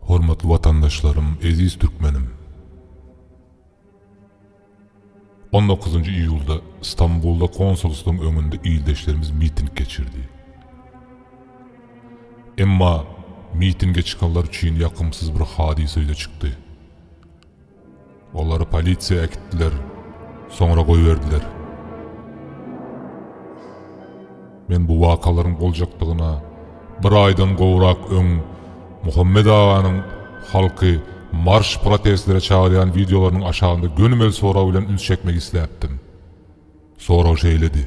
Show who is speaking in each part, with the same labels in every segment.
Speaker 1: Hormatly Watandaşlarym Eziz Türkmenim. On dokuzynjy iýulda Stambulda konsulstwyň öňünde ildeşlerimiz miting geçirdi. Emma mitinge çykanlar üçin ýakymsyz bir hadysa ýüze çykdy. Olary polisiýa äkitdiler, soňra goýberdiler. Men bu wakalaryň boljakdygyna bir aýdan gowrak öň Muhammet aganyň halky marş-protestlere çagyrýan wideolarynyň aşagynda gönümel sorag bilen üns çekmek isläpdim. Sorag şeýledi,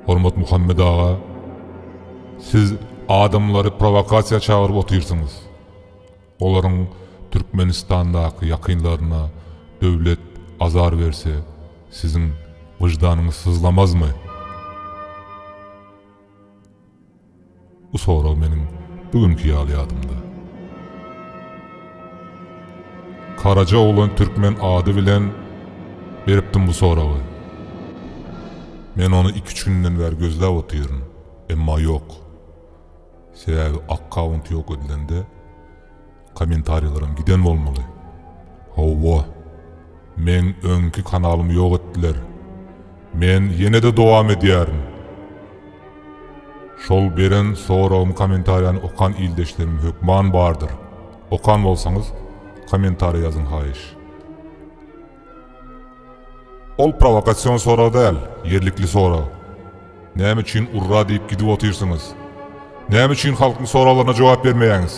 Speaker 1: Hormat Muhammet aga, siz adamlary prowokasiýa çagyryp otyrsyňyz. Olaryň Türkmenistandaky ýakynlaryna döwlet azar berse, siziň wyždanyňyz syzlamazmy? Bu sorag meniň bu günki ýaly ýadymda. Karaja oglan türkmen ady bilen beripdim bu soragy. Men ony iki-üç günden bäri gözläp otyryn, emma ýok. Sebäbi akkaunt ýok edilende kommentariýalaram giden bolmaly. Hawa. Meň öňki kanalymy ýok etdiler. Men ýene-de dowam edýärin. Şol beren soragym kommentariýany okan ildeşlerim hökman bardyr. Okan bolsaňyz kommentariýa ýazyň haýyş. Ol prowokasion sorag däl, ýerlikli sorag. Näme üçin urra diýip gidip otyrsyňyz? Näme üçin halkyň soraglaryna jogap bermeýäňiz?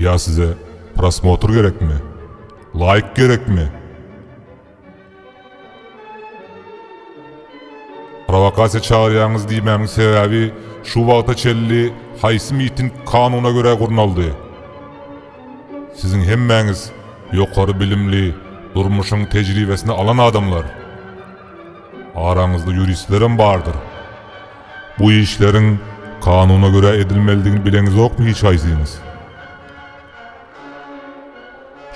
Speaker 1: Ýa size prosmotr gerekmi? Laýk gerekmi? Prowokasiýa çagyrýaňyz diýmämiň sebäbi şu wagta çenli haýsy miting kanuna görä gurnaldy? Siziň hemmäňiz ýokary bilimli, durmuşyň tejribesini alan adamlar. Araňyzda ýuristlerem bardyr. Bu işleriň kanuna görä edilmelidigini bileňizokmy hiç haýsyňyz?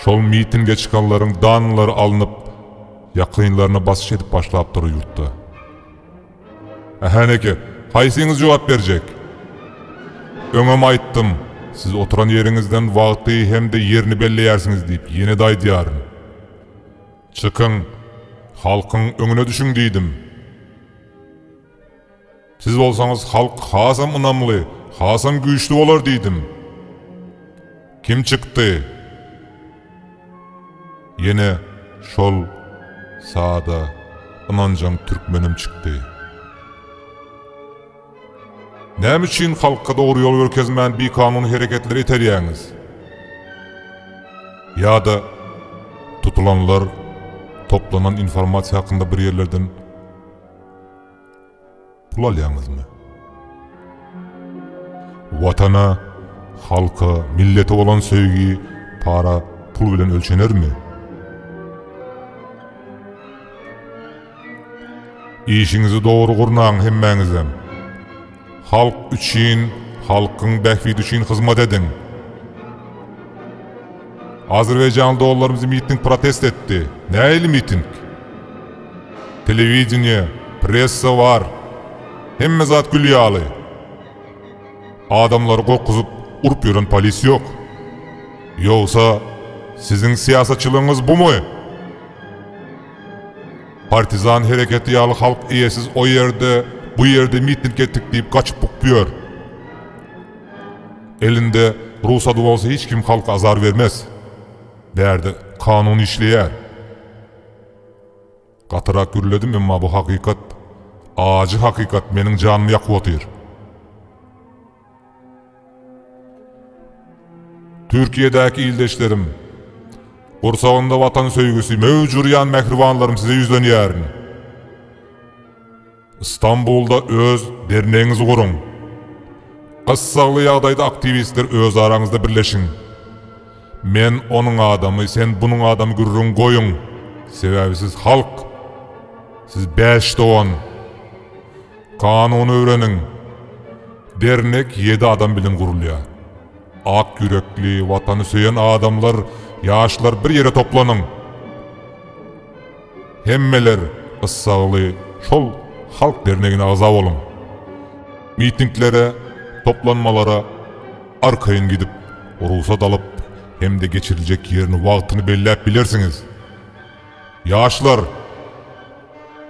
Speaker 1: Şol mitinge çykanlaryň danlary alnyp, ýakynlaryna basyş edip başlapdyr ýurtda. Häneki, haýsyňyz jogap berjek? Öňem aýtdym, siz oturan ýeriňizden wagty hem-de ýerini belleýärsiňiz diýip, ýene-de aýdýaryn. Çykyň, halkyň öňüne düşüň diýdim. Siz bolsaňyz halk hasam ynamly, hasam güýçli bolar diýdim. Kim çykdy? Ýene şol sada, ynanjaň türkmenim çykdy. Näme üçin halka dogry ýol görkezmän bikanun hereketleri iterýäňiz? Ýa-da tutulanlar toplanan informasiýa hakynda bir ýerlerden Pul alýaňyzmy? Watana, halka, millete bolan söýgi para, pul bilen ölçenermi? Işiňizi dogry gurnaň hemmäňizem. Halk üçin, halkyň bähbidi üçin hyzmat ediň. Azerbaýjanly doganlarymyz miting protest etdi. Nähili miting? Telewideniýe, pressa bar. Hemme zat gül ýaly. Adamlary gorkuzyp, urup ýören polis ýok. Ýogsa, siziň syýasatçylygyňyz bumy? Partizan hereketi ýaly halk eýesiz o ýerde, bu ýerde miting etdik diýip gaçyp-bukup ýör. Elinde rugsady bolsa hiç kim halka azar bermez. Bärde kanun işleýär. Gatyrak gürledim, emma bu hakykat, ajy hakykat meniň janymy ýakyp otyr. Türkiýedäki ildeşlerim, gursagynda Watan söýgüsi möwç urýan mähribanlarym size ýüzlenýärin. Stambulda öz dernegiňizi guruň. Gyssagly ýagdaýda aktiwistler öz araňyzda birleşiň. Men onuň adamy, sen bunuň adamy gürrüňi goýuň, sebäbi siz halk. Siz bäş dogan. Kanuny öwreniň. Dernek ýedi adam bilen gurulýar. Ak ýürekli, watany söýen adamlar, ýaşlar bir ýere toplanyň. Hemmeler gyssagly şol Halk dernegine agza boluň. Mitinglere, toplanmalara arkaýyn gidip, rugsat alyp hem-de geçiriljek ýerini wagtyny belläp bilersiňiz. Ýaşlar!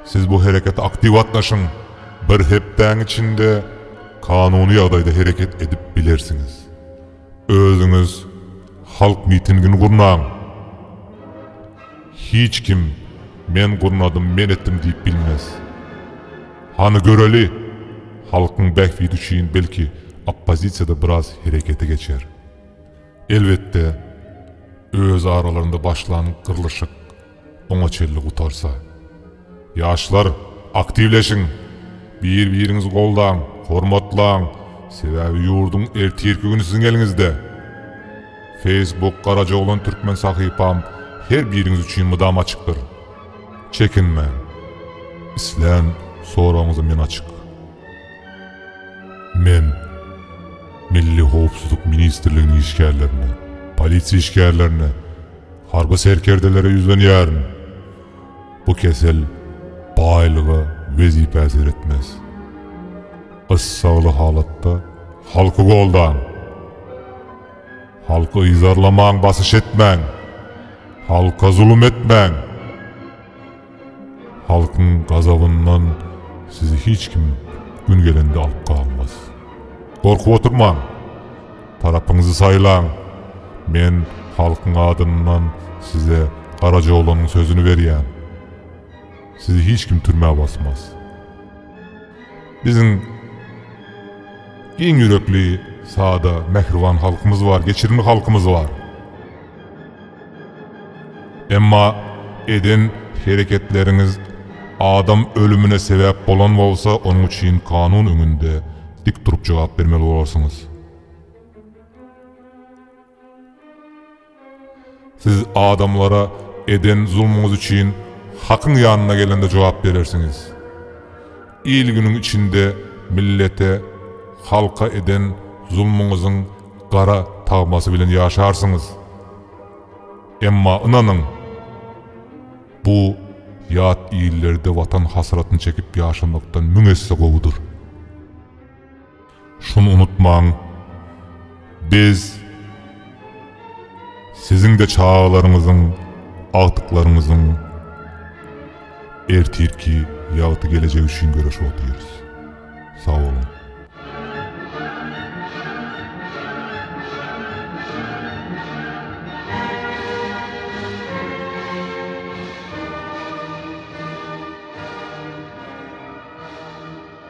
Speaker 1: Siz bu herekete aktiw gatnaşyň. Bir hepdäň içinde kanuny ýagdaýda hereket edip bilersiňiz. Özüňiz halk mitingini gurnaň. Hiç kim men gurnadym, men etdim diýip bilmez. Hany göreli, halkyň bähbidi üçin belki oppozisiýada biraz herekete geçer. Elbetde öz aralarynda başlan gyrlyşyk. Oňa çenli gutarsa. Ýaşlar, aktiwleşiň! Bir-biriňizi goldaň, hormatlaň, sebäbi ýurduň ertirki güni siziň eliňizde! Facebook Garajaoglan Türkmen sahypam her biriňiz üçin mydam açykdyr. Çekinmäň! Islän soragyňyza men açyk. Men Milli howpsuzlyk ministrliginiň işgärlerine, polisiýa işgärlerine, Harby serkerdelere ýüzlenýärin. Bu kesel baýlyga, wezipä seretmez. Gyssagly halatda halky goldaň. Halky yzarlamaň, basyş etmäň. Halka zulum etmäň. Halkyň gazabyndan sizi hiç kim gün gelende alyp galmaz. Gorkup oturmaň! Tarapyňyzy saýlaň! Men halkyň adyndan size Garajaoglanyň sözüni berýän. Sizi hiç kim türmä basmaz. Biziň giň ýürekli, sada, mähriban halkymyz bar, geçirimli halkymyz bar. Emma eden hereketleriňiz adam ölümine sebäp bolan bolsa, onuň üçin kanun öňünde dik durup jogap bermeli bolarsyňyz. Siz adamlara eden zulmuňyz üçin hakyň ýanyna gelende jogap berersiňiz. Il-günüň içinde millete, halka eden zulmuňyzyň gara tagmasy bilen ýaşarsyňyz. Emma ynanyň, bu ýat illerde watan hasratyny çekip ýaşamakdan müň esse gowudyr. Şuny unutmaň, biz siziň-de çagalaryňyzyň, agtyklaryňyzyň ertirki ýagty gelejegi üçin göreşip otyrys. Sag boluň!